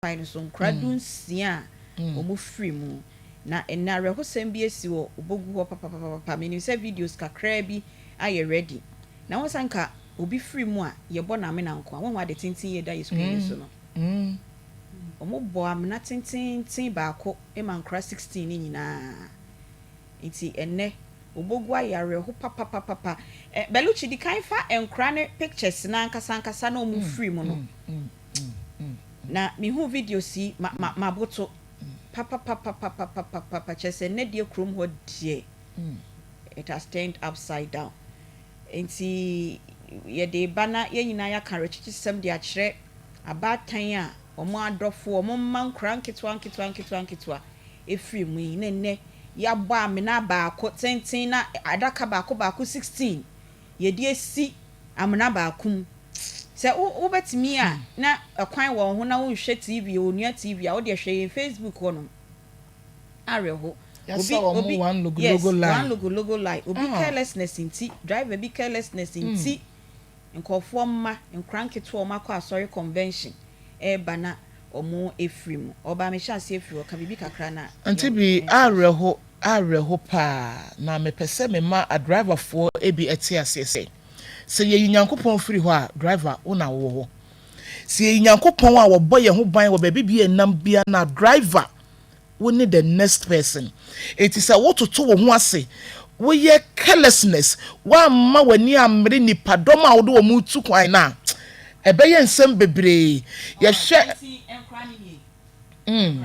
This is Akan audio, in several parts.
kwan no so nkora dunsia a wɔfiri mu. Na ɛnnɛ awerɛhosɛm bi asi wɔ Obogu hɔ papapapapa. Menim sɛ videos kakraa bi ayɛ ready. Na woahu sɛ anka obi firi mu a, yɛbɔ no amena nko ara. Woahu ade tenten yi a ɛda yɛn screen no so no? Wɔbɔ amena tenteenten baako ma nkora 16 no nyinaa. Enti ɛnnɛ Obogu ayɛ awerɛho papapapapa. Ɛ, Bellucci, di kan fa nkora no pictures no ankasa ankasa na wɔfiri mu no. Na mehuu videos yi, ma, ma, maboto papapapapapapapa, kyerɛ sɛ, nnɛ deɛ kurom hɔ deɛ, it has turned upside down. Enti, yɛde reba na yɛn nyinaa yɛaka awerɛkyekyesɛm de akyerɛ abaatan a wɔn adɔfo, wɔn mma nkwadaa nketewa nketewa nketewa nketewa firi mu yi, na nnɛ yɛabɔ amena baako tenten na adaka baako baako 16 yɛde asi amena baako mu. Sɛ wobɛtumi a na ɛkwan wɔ wo ho na wonhwɛ TV, onua TV a, wodeɛ hwɛ yɛn Facebook hɔ nom. Awerɛho. Obi, obi, yes, one logo logo lie. Obi ah. carelessness nti, driver bi carelessness hmm. nti, nkurɔfoɔ mma, nkora nketewa wɔn akɔ asɔre convention ɛreba na wɔn efiri mu. Ɔbaa mehyɛ aseɛ firi hɔ, ka biribi kakra na. Nti bi awerɛho. awerɛho paa, na mepɛ sɛ mema adriverfoɔ bi te aseɛ sɛ, sɛ yɛyi Nyankopɔn firi hɔ a, driver, wo na wowɔ hɔ. Sɛ yɛyi Nyankopɔn a wɔbɔ yɛn ho ban wɔ baabi bia yɛnam bia no a, driver, wo ne the next person. Enti sɛ wototo wo ho ase, woyɛ carelessness, woamma w'ani ammere nnipadɔm a wode wɔn retu kwan no a, ɛbɛyɛ nsɛm bebree. Yɛhwɛ. Mm.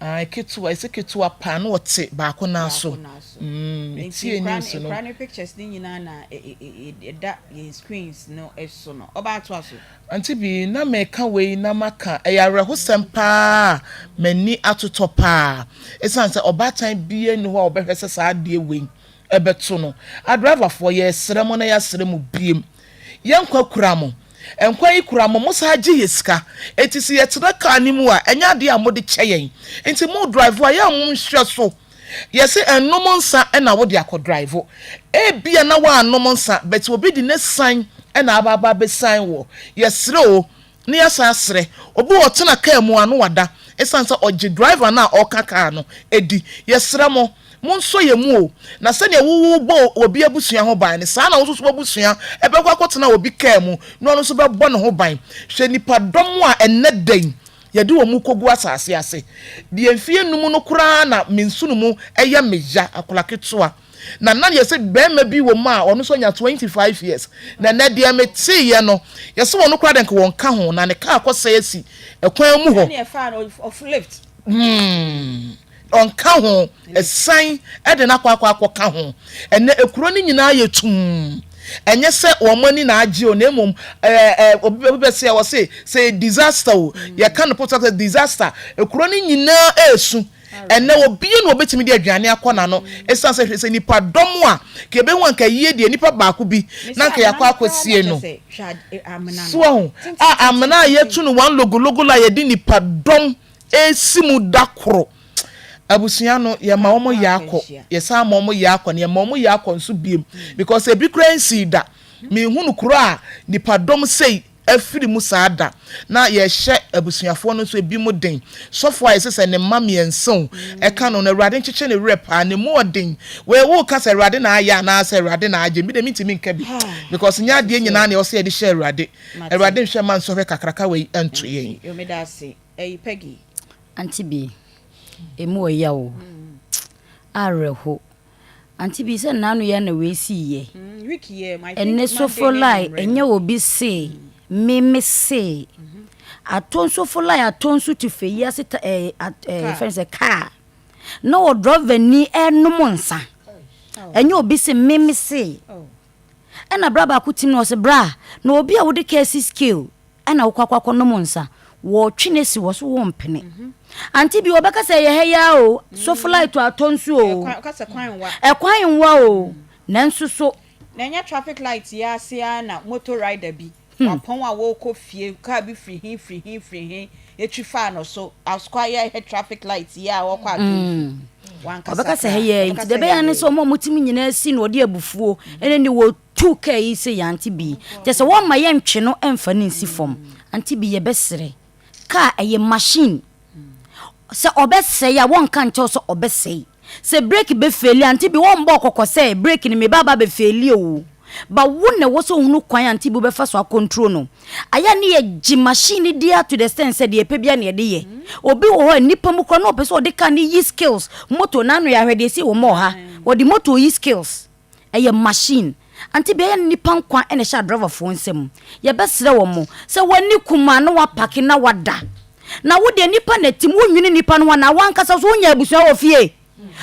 Ae ketewa ese ketewa paa na ɔte baako nan so me tie news no. Nkura ne pictures no nyinaa na ɛda yɛn screens no so no ɔbaa toa so. Auntie Bee, na meka wei na maka, ɛyɛ awerɛhosɛm paa a m'ani atotɔ paa ɛsiane sɛ ɔbaatan biara nni hɔ a ɔbɛhwɛ sɛ saa adeɛ wei bɛto no. Adriverfoɔ, yɛresrɛ mo na yɛasrɛ mo biom, yɛn nkwa kura mo, Nkwa yi kura mo, mosan gye yɛ sika. Enti sɛ yɛtena kaa no mu a, ɛnyɛ adeɛ a mode kyɛ yɛn. Enti mo drive a, yɛ a monhwɛ so. Yɛse nnom nsa na wode akɔ drive. Ebia na woannom nsa, but obi de n'asiane na aba aba abɛsiane wo. Yɛsrɛ o, na yɛasan asrɛ. Obi wɔ hɔ ɔtena kaa mu a, na wada. Esiane sɛ ɔgye driver no a ɔka kaa no di. Yɛsrɛ mo. Monsɔ yɛn mu o, na sɛdeɛ wobɔ obi abusua ho ban no, saa ara na wo nso so w'abusua bɛkɔ akɔtena obi kaa mu na ɔno nso bɛbɔ ne ho ban. Hwɛ nnipadɔm a ɛnnɛ da yi yɛde wɔn rekɔgu asase ase. Deɛ mfeɛ nnum no koraa na me nsono mu yɛ me ya, akwadaa ketewa, na na yɛ sɛ barima bi wɔ mu a ɔno nso anya twenty five years, na ɛnnɛ deɛ meteeɛ no, yɛ sɛ ɔno koraa deɛ nka wɔnka ho, na ne kaa akɔsɛe asi kwan mu hɔ. Hmm. Ɔnka ho, asian de no akɔ akɔ akɔka ho. Ɛnnɛ, kuro no nyinaa ayɛ tumm. Ɛnyɛ sɛ wɔn ani na agye o, na mmom ɛɛ ɛ obi obi bɛsi a wɔse sɛ yɛ disaster o, yɛka no posa sɛ disaster. Kuro no nyinaa resu. Ɛnnɛ, obiara na obetumi de aduane akɔ n'ano. Esiane sɛ hwɛ sɛ nnipadɔm a, nka yɛbɛhu anka ayie deɛ nnipa baako bi na anka yɛakɔ akɔsie no. So ahu? A amena a yɛatu no wɔn logologo la yɛde nnipadɔm resi mu da koro. Abusua no, yɛma wɔn yɛ akɔ, yɛsan ma wɔn yɛ akɔ, na yɛma wɔn yɛ akɔ nso bio, because ebi koraa nsii da. Menhunu kuro a nnipadɔm sei afiri mu saa da, na yɛhyɛ abusuafoɔ no nso ebinom den. Sɔfo a yɛse sɛ ne mma mmiɛnsa o, ɛka no no, Awurade nkyekye ne werɛ paa, ne mu ɔden. Wei woka sɛ Awurade na ayɛ anaa sɛ Awurade na agye, me deɛ mentumi nka bi, because nyɛ adeɛ nyinaa na ɛwɔ sɛ yɛde hyɛ Awurade. Awurade nhwɛ mma nsɔhwɛ kakraka wei nto yɛn. Ɛy Peggy. Auntie Bee, emu wɔ yaw o. Awerɛho. Auntie Bee, sɛ nnɛ ano yi ara na wei sii yɛ. Mm, week yɛ, I think Ɛnɛ Monday sofo ne lai, anwummere no. ɛnyɛ obi se, me me se. Atɔ sofo lai atɔ nsu te fɛ yi ase ta ɛɛ at ɛɛ Car. fɛn sɛ car. Na ɔdrɔvani ɛrenom nsa. Oh, Ɛnyɛ obi se, me me se. oh. Ɛna bra baako tim na ɔse bra na obi a wode kaa si scale ɛna wokɔ akɔ akɔ nom nsa wɔtwe no asi hɔ so wo mpene ante bi wɔbɛka sɛ ɛyɛ ha yi ara o so flight atɔ nso o ɛkwan nwa o nanso so. Na ɛnyɛ traffic light yi ase ara na motor rider bi Hmm. Wapɔn a wɔrekɔ fie, kaa bi firi he firi he firi he, etwi faa no so, asukɔ ayɛ a ɛhɛ traffic light yɛ a ɔkɔ ato nsu. Mm. Wankasa Ɔbɛka sɛ koraa. hɛ yɛ nti Ɔbɛka deɛ sɛ ɛbɛyɛ yɛ ne ayɛ. sɛ wɔn a wɔte mu nyinaa si na ɔde abufuo ɛne ne wɔtu kaa yi sɛ yɛ ante bi kyɛ sɛ wɔmma yɛntwe no mfa no nsi fam ante bi yɛbɛserɛ kaa ɛyɛ machine Sɛ ɔbɛsɛe a, wɔnka nkyɛw sɛ ɔbɛsɛe. Sɛ breki bɛfeeli a, ante bi wɔmmɔɔ kɔkɔ sɛ breki no, me ba aba abɛfeeli o. But wo na ɛwɔ sɛ wohunu kwan a ante bi wobɛfa so akɔntro no. Ayɛ a ne yɛgye machine no di ara to the extent sɛ deɛ yɛpɛ biara na yɛde yɛ. Obi wɔ hɔ a, nnipa mu koraa na ɔpɛ sɛ ɔde car no yi skills, motor no ano yɛ ahwɛ deɛ ɛsii wɔ mɔɔ ha. Wɔde motor yi skills. Ɛyɛ machine. Ante bia ɛyɛ no nipa nkwa na ɛhyɛ driver foɔ nsa mu. Yɛbɛsrɛ wɔn mo sɛ wɔn ani kum a na wapake na wada. Na wo deɛ nipa na ɛtim wo nwene nipa no ho anaa wankasa nso wo nyɛ abusua wɔ fie?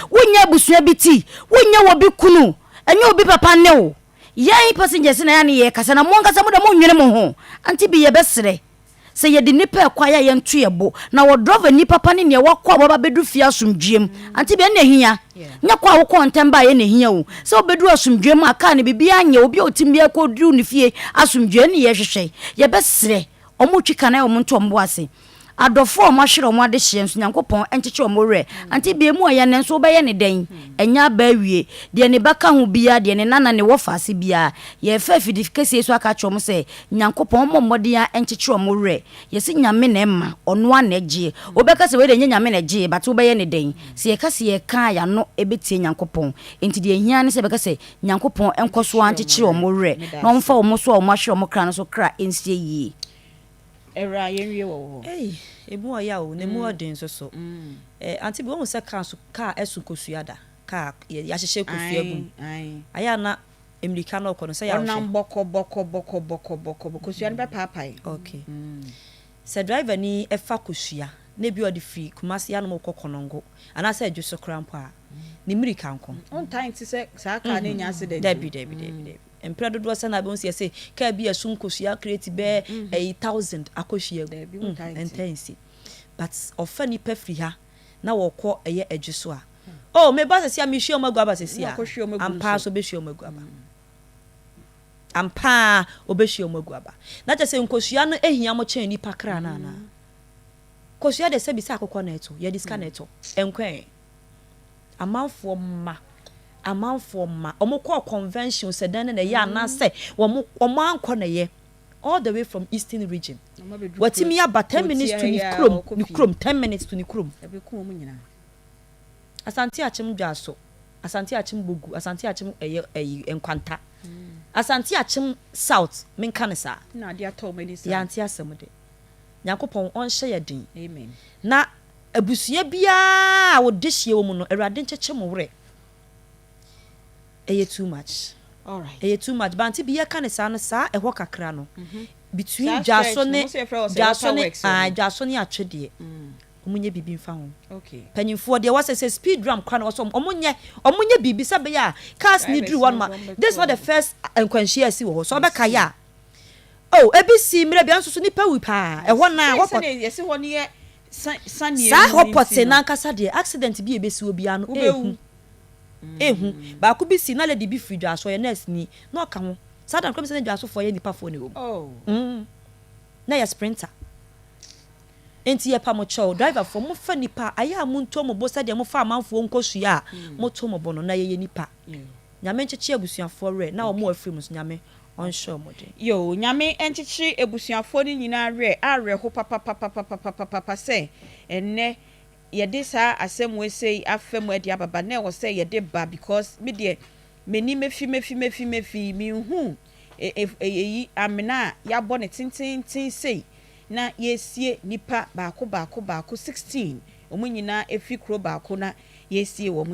Wo nyɛ abusua bi ti? Wo nyɛ wɔ bi kunu? Ɛnyɛ obi papa ne wo? Yɛn passengers na ɛyɛ a ne yɛkasa na mo ankasa mo deɛ mo nwene mo ho. Ante bi yɛbɛsrɛ Sɛ yɛde nnipa rekɔ a yɛ a yɛnto yɛn bo, na wɔ drɔva nipa pa ne nea wakɔ a waba bɛdu fie asomdwoeɛ mu. Ante bia? Ɛna ɛhia. Nyɛ kɔ a wokɔɔ ntɛm baeɛ na ɛhia o. Sɛ wobɛduru asomdwoeɛ mu a kaa no biribiara nyɛ obi a ɔtim biara kɔduru ne fie asomdwoeɛ ɛne yɛhwehwɛ. Yɛbɛsrɛ wɔn retwi ka no ayɛ wɔn nto wɔn bo ase. Adɔfoɔ a wɔahwere wɔn adehyeɛ nso Nyankopɔn nkyekye wɔn werɛ. Ante bia? Emu ayɛ nanso wobɛyɛ no dɛn? Ɛnyɛ aba awie. Deɛ ne ba ka ho biara, deɛ ne nana, ne wɔfa ase biara. Yɛrefa afidikɛseɛ yi so aka akyerɛ wɔn sɛ, Nyankopɔn ɔmɔ mmɔden a ɛnkyekyere ɔmo werɛ. Yɛse Nyame na ɛma, ɔno ara na ɛgyeɛ. Wobɛka sɛ wei deɛ ɛnyɛ Nyame na ɛgyeɛ but wobɛyɛ no dɛn? Sɛ yɛka sɛ yɛka a yɛano ɛbɛtie Nyankopɔn. Enti deɛ ɛhia ara ne sɛ yɛbɛka sɛ Nyankopɔn nkɔ so ara nkyekyere ɔmo werɛ na ɔmfa ɔmo so a ɔmo ahwere ɔmo kra no so kra nsie yie. Ɛwraa yɛn wie wɔ wo hɔ. Ei! Emu ɔya o, na emu ɔden nso so. Eh, Auntie Bee, woahu sɛ car nso, car ɛso kosua da? Car, yɛ, yɛahyehyɛ kosua gu mu. Ae, ae. Ayɛ a na. Mmirika na ɔkɔ no sɛ yɛanhwɛ. Ɔnam bɔkɔ bɔkɔ bɔkɔ bɔkɔ bɔkɔ bɔ kosua no bɛpaapae. Ok. Sɛ driver ni fa kosua na ebi a ɔde firi Kumasi ha nom rekɔ Konongo anaasɛ Adwo so koraa mpo a, ne mmirika nko. Ɔntaa nte sɛ saa car no anya accident o. Dabi dabi dabi dabi. Mprɛ dodoɔ sɛ na wobɛhu sɛ yɛse car bi a ɛso nkosua kreti bɛyɛ ayi thousand akɔ hwiagu. Dabi wontaa nte. Ɛntaa nsi. But ɔfa nipa firi ha. na wɔkɔ ɛyɛ adwi so a, oh, me ba sɛsi a, me hwia wɔn agu aba sɛsi a, ampa ara so ɔbɛhwia wɔn agu aba. Ampa ara ɔbɛhwia wɔn agu aba. Na kyɛ sɛ nkosua no hia mo kyɛn nipa kra no anaa? Kosua deɛ sɛbi sɛ akokɔ na ɛto, yɛde sika na ɛtɔ, ɛnkɔɛ. Amanfoɔ mma, amanfoɔ mma, wɔn kɔɔ convention sɛ dan na ɛyɛ anaasɛ wɔn wɔn ankɔ na ɛyɛ. all the way from eastern region watumi aba ten minutes to ne kurom ne kurom ten minutes to ne kurom asante akyem dwaso asante akyem bogu asante akyem ɛyɛ ɛyi nkwanta asante akyem south menka ne saa yɛante asɛm de nyankopɔn ɔnhyɛ yɛ den na abusua biara a wɔde hyia wɔ mu no awurade nkyekyɛ mo werɛ ɛyɛ too much Alright. ɛyɛ too much bante bi yɛka ne saa no saa ɛhɔ kakra no between Saa dwaso stretch no, ne mo sɛ yɛfrɛ hɔ sɛ dwaso ne waterworks hɔ ah, no. dwaso ne atwe deɛ wɔn nyɛ biribi mfa ho Okay. panyinfoɔ deɛ wɔsɛ sɛ speed ram kora no wɔsɛ wɔn nyɛ wɔn nyɛ biribi sɛ bɛyɛ a cars ne Drivers duru hɔ no nom a wɔn bɛkɔ this is not the wɔn. first ah, nkwanhyia a ɛsi wɔ hɔ sɛ ɔbɛka yɛ a oh ebi si mmerɛ bi a nso so nipa wu paa ɛhɔ na Sɛ wɔkɔ sɛdeɛ yɛsi hɔ no yɛ Saa hɔ pɔtee no ankasa deɛ, accident bi a ɛbɛsi obiara no, ehu. Ehu. Baako bi sii, na lady bi firi Dwaso, ɔyɛ nurse ni, na ɔka ho. Saa da no koraa, menim sɛ na Dwasofoɔ yɛ nnipafoɔ na ɛwɔ mu. Oh. Mm. Na ɛyɛ sprinter. Enti yɛpa mo kyɛw, driverfoɔ, momfa nnipa, ayɛ a monto mo bo sɛdeɛ mofa amanfoɔ nkosua a, moto mo bo no, na yɛyɛ nnipa. Nyame nkyekye abusuafoɔ werɛ, na wɔn a wɔafiri mu nso, Nyame ɔnhyɛ ɔmo den. Yoo Nyame nkyekyere abusuafoɔ no nyinaa werɛ awerɛho papapapapapapapa sɛ ɛnnɛ yɛde saa asɛm wei sei afa mu ɛde ababa na ɛwɔ sɛ yɛde ba because me deɛ m'ani mefi mefi mefi mefi menhuu ɛyi amena a yɛabɔ no tententen sei na yɛresie nipa baako baako baako sixteen ɔmo nyinaa ɛfiri kuro baako na yɛresie wɔn nti